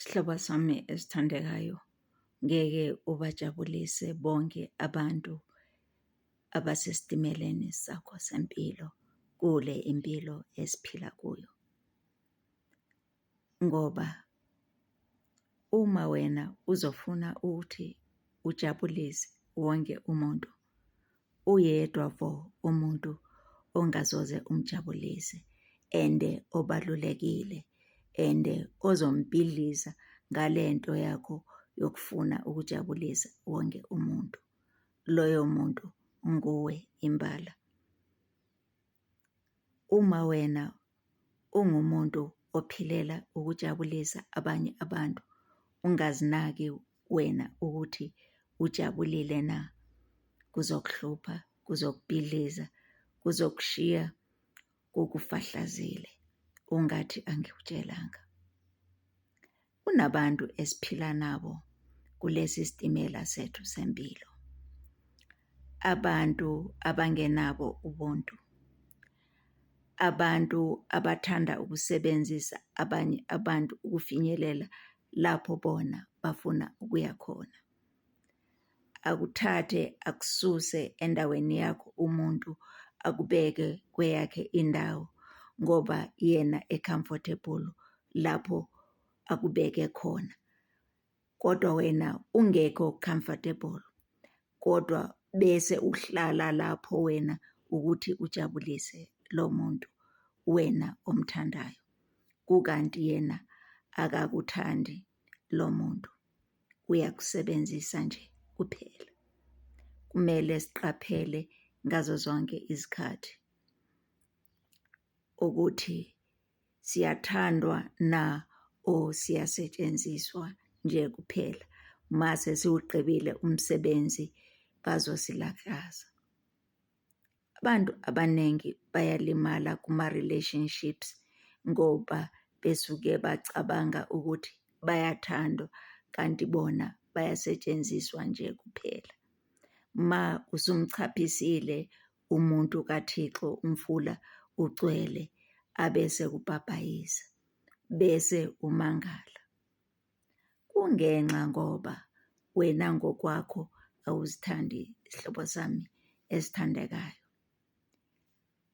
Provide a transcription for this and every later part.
Sihlobo sami esithandekayo, ngeke ubajabulise bonke abantu abasesitimeleni sakho sempilo kule impilo esiphila kuyo ngoba Uma wena uzofuna ukuthi ujabulise wonke umuntu, uyedwa vo umuntu ongazoze umjabulise and obalulekile and ozombhidliza ngale nto yakho yokufuna ukujabulisa wonke umuntu. Loyo muntu nguwe imbala. Uma wena ungumuntu ophilela ukujabulisa abanye abantu, ungazinaki wena ukuthi ujabulile na, kuzokuhlupha, kuzokubhidliza, kuzokushiya kukufahlazile ungathi angikutshelanga. kunabantu esiphila nabo kulesi sitimela sethu sempilo. Abantu abangenabo ubuntu. Abantu abathanda ukusebenzisa abanye abantu ukufinyelela lapho bona bafuna ukuya khona. akuthathe akususe endaweni yakho umuntu akubeke kweyakhe indawo ngoba yena e-comfortable lapho akubeke khona, kodwa wena ungekho comfortable kodwa bese uhlala lapho wena ukuthi ujabulise lo muntu wena omthandayo, kukanti yena akakuthandi. lo muntu uyakusebenzisa nje kuphela. Kumele siqaphele ngazo zonke izikhathi ukuthi siyathandwa na o siyasetshenziswa nje kuphela. Mase siwugqibile umsebenzi bazosilaxaza. Abantu abaningi bayalimala kuma-relationships ngoba besuke bacabanga ukuthi bayathandwa kanti bona bayasetshenziswa nje kuphela. Uma usumchaphisile umuntu kaThixo umfula ugcwele abese kubhabhayisa bese umangala. kungenxa ngoba wena ngokwakho awuzithandi sihlobo sami esithandekayo.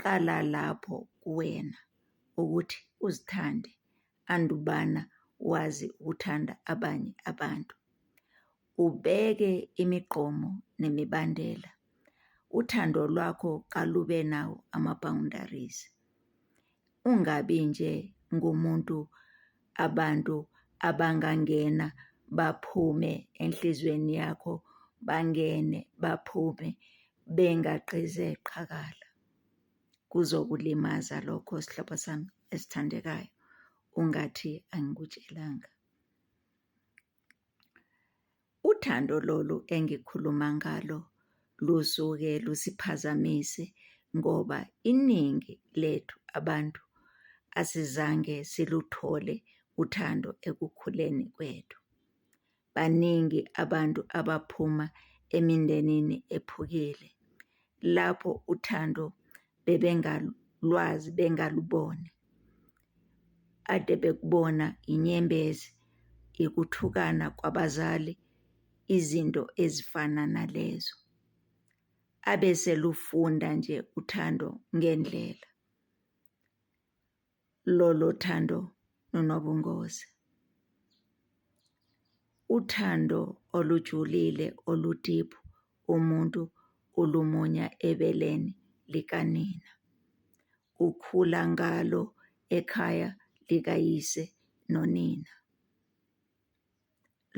Qala lapho kuwena ukuthi uzithande andubana wazi ukuthanda abanye abantu. ubeke imiqomo nemibandela uthando lwakho kalube nawo ama-boundaries ungabi nje ngumuntu abantu abangangena baphume enhlizweni yakho bangene baphume bengagqize qhakala kuzokulimaza lokho sihlobo sami esithandekayo ungathi angikutshelanga Uthando lolu engikhuluma ngalo lusuke lusiphazamise ngoba iningi lethu abantu asizange siluthole uthando ekukhuleni kwethu. Baningi abantu abaphuma emindenini ephukile lapho uthando bebengalwazi bengaluboni ade bekubona inyembezi yokuthukana kwabazali izinto ezifana nalezo abeselufunda nje uthando ngendlela lolo thando nonobungozi uthando olujulile oludiphu umuntu ulumunya ebeleni likanina ukhula ngalo ekhaya likayise nonina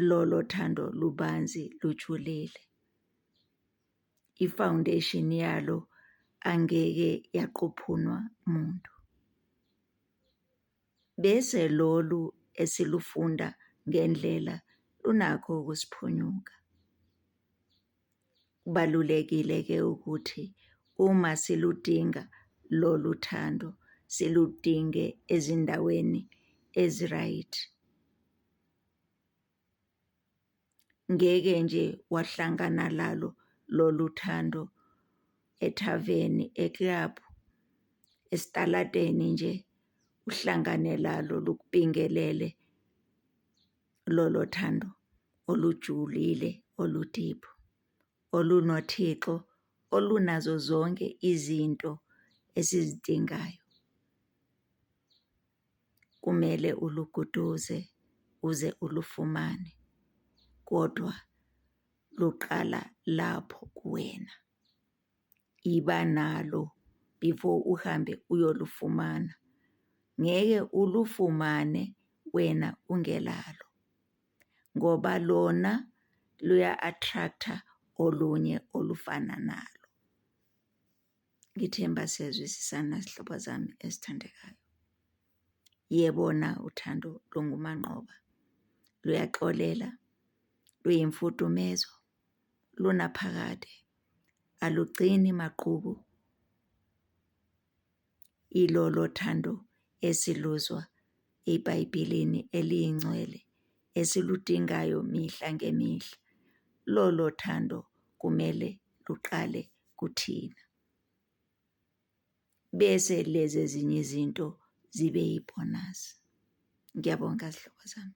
lolo thando lubanzi lujulile ifoundation yalo angeke yaquphunwa muntu. Bese lolu esilufunda ngendlela lunakho ukusiphunyuka. Kubalulekile ke ukuthi uma siludinga lolu thando siludinge ezindaweni eziright. Ngeke nje wahlangana lalo lolu thando ethaveni, ekilabhu, esitaladeni nje uhlangane lalo lukubingelele lolo thando olujulile oludiphu, olunoThixo, olunazo zonke izinto esizidingayo. kumele uluguduze uze ulufumane kodwa luqala lapho kuwena. Iba nalo before uhambe uyolufumana, ngeke ulufumane wena ungenalo ngoba lona luya-attract-a olunye olufana nalo. Ngithemba siyazwisisana zihlobo zami ezithandekayo. Yebona uthando lungumanqoba, luyaxolela, luyimfudumezo, lunaphakade, alugcini maqubu. Ilolo thando esiluzwa eBhayibhelini eliyingcwele esiludingayo mihla ngemihla. Lolo thando kumele luqale kuthina. Bese lezi ezinye izinto zibe yibhonasi. Ngiyabonga zihlobo zami.